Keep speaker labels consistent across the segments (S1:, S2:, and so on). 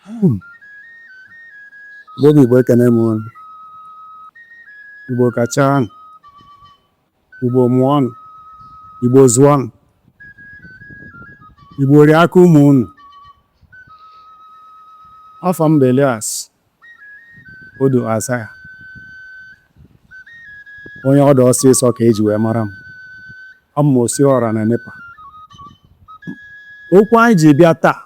S1: Hmm. Igbo bụ Igbo ekene m unu Igbo kachanụ Igbo mụọnụ Igbo zụọnụ Igbo rie aka ụmụ unu afa m bụ Elias Odo Azaya onye ọdụ ọsịsọ ka eji wee mara m abụ m osi ọra na nepa okwu anyị ji bịa taa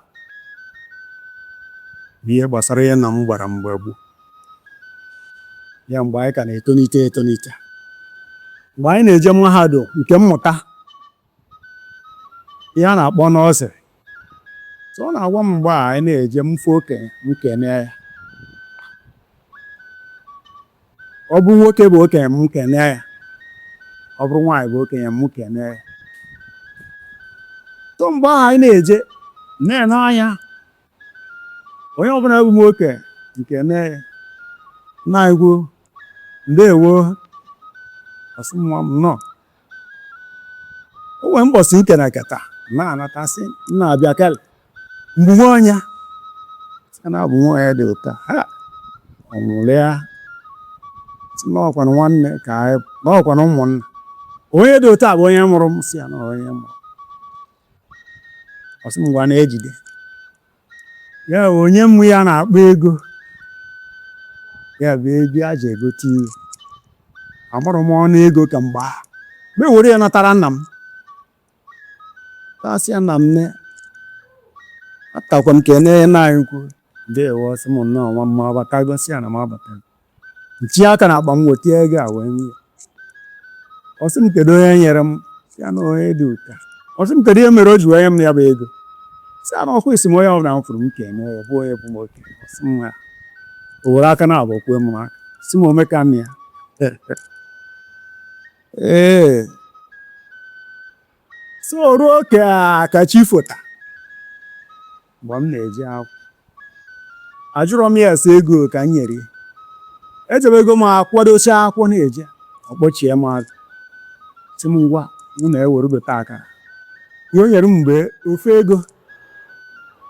S1: bụ ihe gbasara ihe nna m gwara m mgbe gboo ya mgbe anyị ka na-etonite etonite mgbe anyị na-eje mahadum nke mmụta ihe a na-akpọ nursery so ọ na-agwa m mgbe ahụ anyị na-eje m fụ okenye m kene ya ọ bụrụ nwoke bụ okenye m kene ya ọ bụrụ nwaanyị bụ okenye m kene ya so mgbe ahụ anyị na-eje na-ene anya onye ọbụla bụ m okenye m kene ya na-ekwu ndewo ọ sị m nwa m nnọọ o nwere mbọsị m kenekata na-anata sị nna bịa kele m bụ nwa onye sị na abụ nwa onye dị otu a ha ọ mụrụ ya sị na ọkwanụ nwanne ka anyị na ọkwanụ ụmụnna onye dị otu a bụ onye mụrụ m sị ya na onye mụrụ ọ sị m ngwa na-ejide ya o nye m ihe a na-akpọ ego ya bụ ego e ji egote ihe amarọ m ọnụ ego ka mgbe ahụ m bịa were ya natara nna m asị ya nna m anatakwa m kene nna anyị ukwu ndewo sị m nnọọ nwa m abatago sị ya na m abatago m tinye aka na akpa m weta ego a wee nye ọ sị m kedu onye nyere m sị ya na onye dị otu a ọ sị m kedu ihe mere o ji wee nye m ya bụ ego sị ya na ọkwa ị sị m onye ọbụla m fụrụ m kene ya bụ onye bụ m okenye ọ sị m ha o were aka na abụọ kwee m aka sị m o meka m ya ee so ruo ka ka chi fota mgbe m na-eje akwụkwọ ajụrọ m ya ese ego ka m nyere ya ejebego m akwadocha akwụkwọ na-eje ọ kpọchie m azụ sị m ngwa mụ na-ewere gote akara ihe o nyere m bụ ofu ego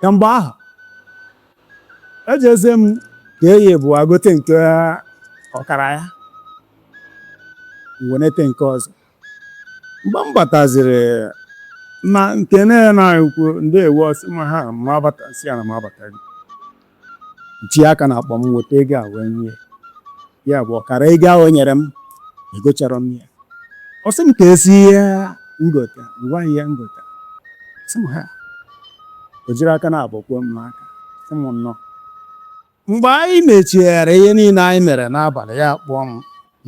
S1: ka mgbe ahụ ejeze m ka eyi bụ agote nke ọkara ya wenata nke ọzọ mgbe m bataziri na nke na-ekwu ndewo ọ sị m ha m abata sị ya na m abatago m chie aka n'akpa m weta ego a wee nye ya bụ ọkara ego ahụ o nyere m egocharọ m ya ọ sị m kezi ihe m gota m gwa ya ihe m gota sị m ha o jiri aka naabọ kwee m n'aka sị m nnọọ Mgbe anyị mechara ihe niile anyị mere n'abalị, ya kpọọ m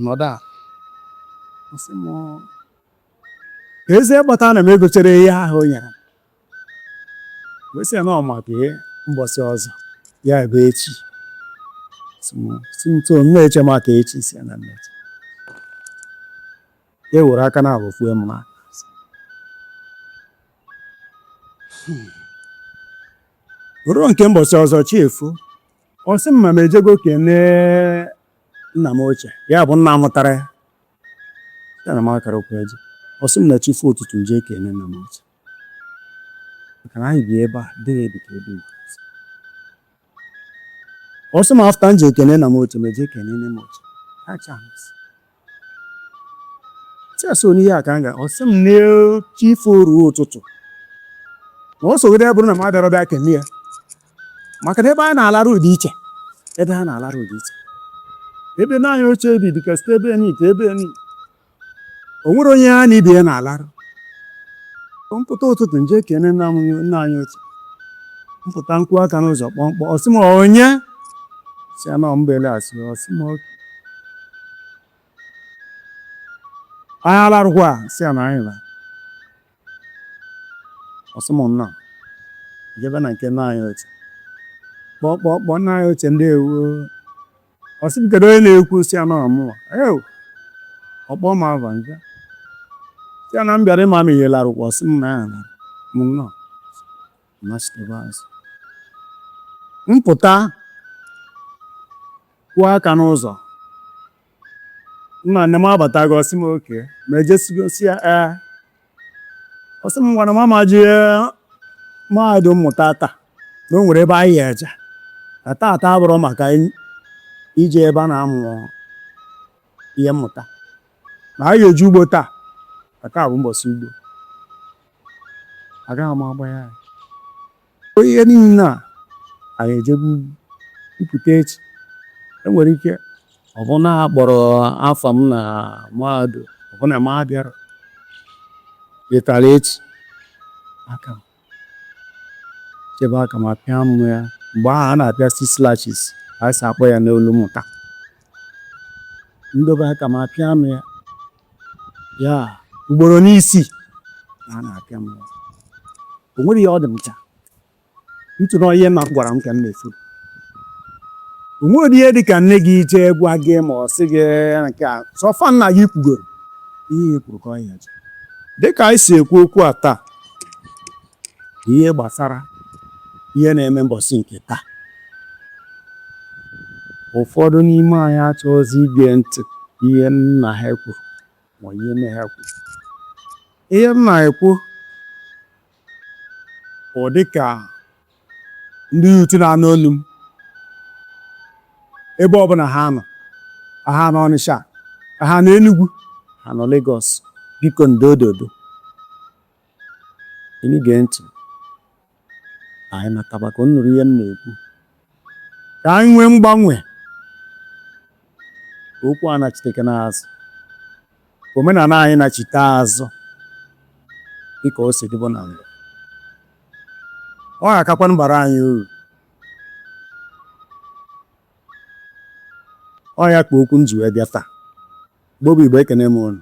S1: nọdụ a sị m kezi kpata na m egocharọ ihe ahụ o nyere m wee sị ya na ọ maka ihe mbọsị ọzọ ya bụ echi sị ntu na-eche maka echi sị ya na m eche ya were aka naabọ kwee m n'aka hmm. ruo nke mbọsị ọzọ chi efo ọ sị m ma m ejego kenee nna m ochie ya bụ nna mụtara ya ya na m akarọkwa eje ọ sị m na chi fo ụtụtụ m jee kene nna m ochie maka na anyị bi ebe a dịghị edika ebe ọ sị m after m jee kene nna m ochie m ejee kene nne m ochie acha m sị chesị onye ihe a ka m ga ọ sị m na chi fo ruo ụtụtụ ma ọ sogide ya bụrụ na m abịarọ bịa kene ya maka na ebe anyị na-alarụ dị iche ebe ha na-alarụ dị iche ebe nna anyị ochie bi dịka site ebe nị te ebe nị o nwerọ onye ya na ibe ya na-alarụ m pụta ụtụtụ m jee kene nna m nna anyị ochie m pụta m kụọ aka n'ụzọ kpọm kpọm ọ sị m onye sị ya na ọ m bụ Elias ọ sị m okay anyị alarụkwa sị ya na anyị la ọ sị m nna jebe na nke nna anyị ochie kpọkpọkpọ nna anyị ochie ndewo ọ sị m kedu onye na-ekwu sị ya na ọ mụwa ew ọ kpọọ m ava m za sị ya na m bịara ịma ma ị larụkwa ọ sị m na ya na m nọ machitebe azụ m pụta kụọ aka n'ụzọ nna nne m abatago ọ sị m okay ma m ejesigo sị ya ee ọ sị m ngwa na m ama eje mahadum mmụta taa na o nwere ebe anyị ya-eje na taata abụrọ maka ije ebe a na-amụ ihe mmụta na anyị eje ugbo taa na taa bụ mbọsị ugbo agaghị m agba ya ihe niile a anyị ejebe m pụta echi e nwere ike ọ bụ na a kpọrọ afa m na mahadum ọ bụ na m abịarọ letara echi aka m chebe aka m a pịa m ya mgbe ahụ a na-apịa six lashes a sị a kpọọ ya n'olu mmụta m dobe aka m a pịa m ya ya ugboro n'isi na a na-apịa m ụzọ. o nwere ihe ọ dị m ncha ntụ na ihe nna m gwara m ka m na-afụ o nwere ihe dị ka nne gị jee gwa gị ma ọ sị gị nke a so far nna gị kwugoro ihe e kwuru ka ọ ya dị ka anyị si ekwu okwu a taa ihe gbasara ihe na-eme mbọsị nke taa ụfọdụ n'ime anyị achọghịzi ige ntị ihe nna ha kwuru ma ihe nne ha kwuru ihe m na-ekwu ọ dị ka ndị youth na-anụ olu m ebe ọbụla ha nọ ha nọ Ọnịsha ha nọ Enugwu ha nọ Lagos biko ndododo Unu gee ntị ka anyị nataba ka unu nụrụ ihe m na-ekwu ka anyị nwee mgbanwe ka okwu a nachitekene azụ ka omenala anyị nachite azụ dịka o si dịbụ na mbụ ọ ga-akakwa abara anyị uru ọ ya ka okwu m ji wee bịa taa Igbo bụ Igbo ekene m unu